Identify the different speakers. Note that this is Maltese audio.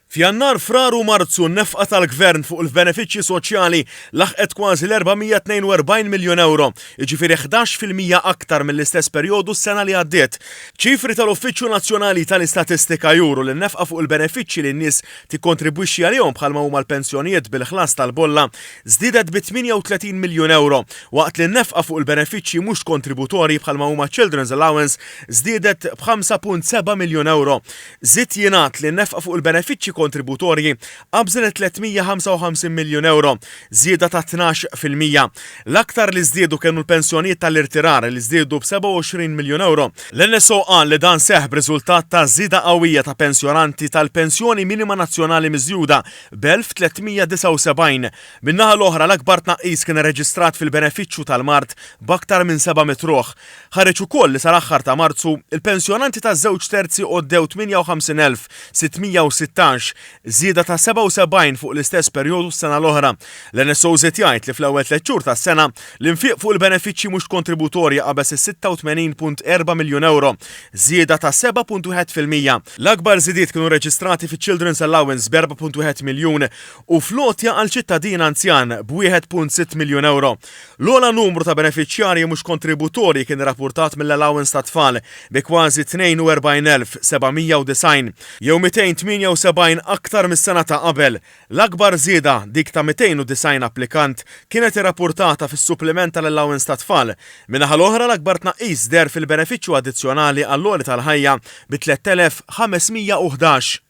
Speaker 1: F'Jannar, Frar u Marzu n-nefqa tal-Gvern fuq il-benefiċċji soċjali laħqet kważi l-442 miljun ewro, jiġifieri ħdax fil-mija aktar mill-istess perjodu s-sena li għaddiet. Ċifri tal-Uffiċċju Nazzjonali tal-Istatistika juru li n-nefqa fuq il-benefiċċji li n-nies tikkontribwixxi għalihom bħalma huma l-pensjonijiet bil-ħlas tal-bolla żdiedet bi 38 miljun ewro, waqt li n-nefqa fuq il-benefiċċji mhux kontributorji bħalma huma ċ-Children's Allowance żdiedet b' 5.7 miljun ewro. Żied jingħad li n-nefqa fuq il-benefiċċji kontributorji qabżet 355 miljun ewro, żieda ta' tnax fil-mija. L-aktar li żdiedu kienu l-pensjonijiet tal-irtirar li żdiedu b' 27 miljun ewro. L-NSO qal li dan seħħ b'riżultat ta' żieda qawwija ta' pensjonanti tal-Pensjoni Minima Nazzjonali Miżjuda b' 1,379. Min-naħa l-oħra l-akbar tnaqqis kien irreġistrat fil-benefiċċju tal-mard b'aktar minn 700 ruħ. Ħareġ ukoll li sal-aħħar ta' Marzu, il-pensjonanti ta' żewġ terzi għoddew 58,616, żieda ta' 77 fuq l-istess perjodu s-sena l-oħra. L-NSO żied jgħid li fl-ewwel tliet xhur tas-sena, l-infiq fuq il-benefiċċji mhux kontributorji qabeż is-86.4 miljun ewro, żieda ta' 7.1 fil-mija. L-akbar żidiet kienu rreġistrati fiċ-Children's Allowance b' 4.1 miljun u fl-għotja għal ċittadin anzjan b' 1.6 miljun ewro. L-ogħla numru ta' benefiċjarji mhux kontributorji kien irrappurtat mill-allowance tat-tfal, bi kważi 42,790, jew 278 aktar mis-sena ta' qabel. L-akbar żieda, dik ta' 290 applikant, kienet irrappurtata fis-suppliment tal-allowance tat-tfal. Min-naħa l-oħra, l-akbar tnaqqis deher fil-benefiċċju addizzjonali għall-għoli tal-ħajja, bi 3,511.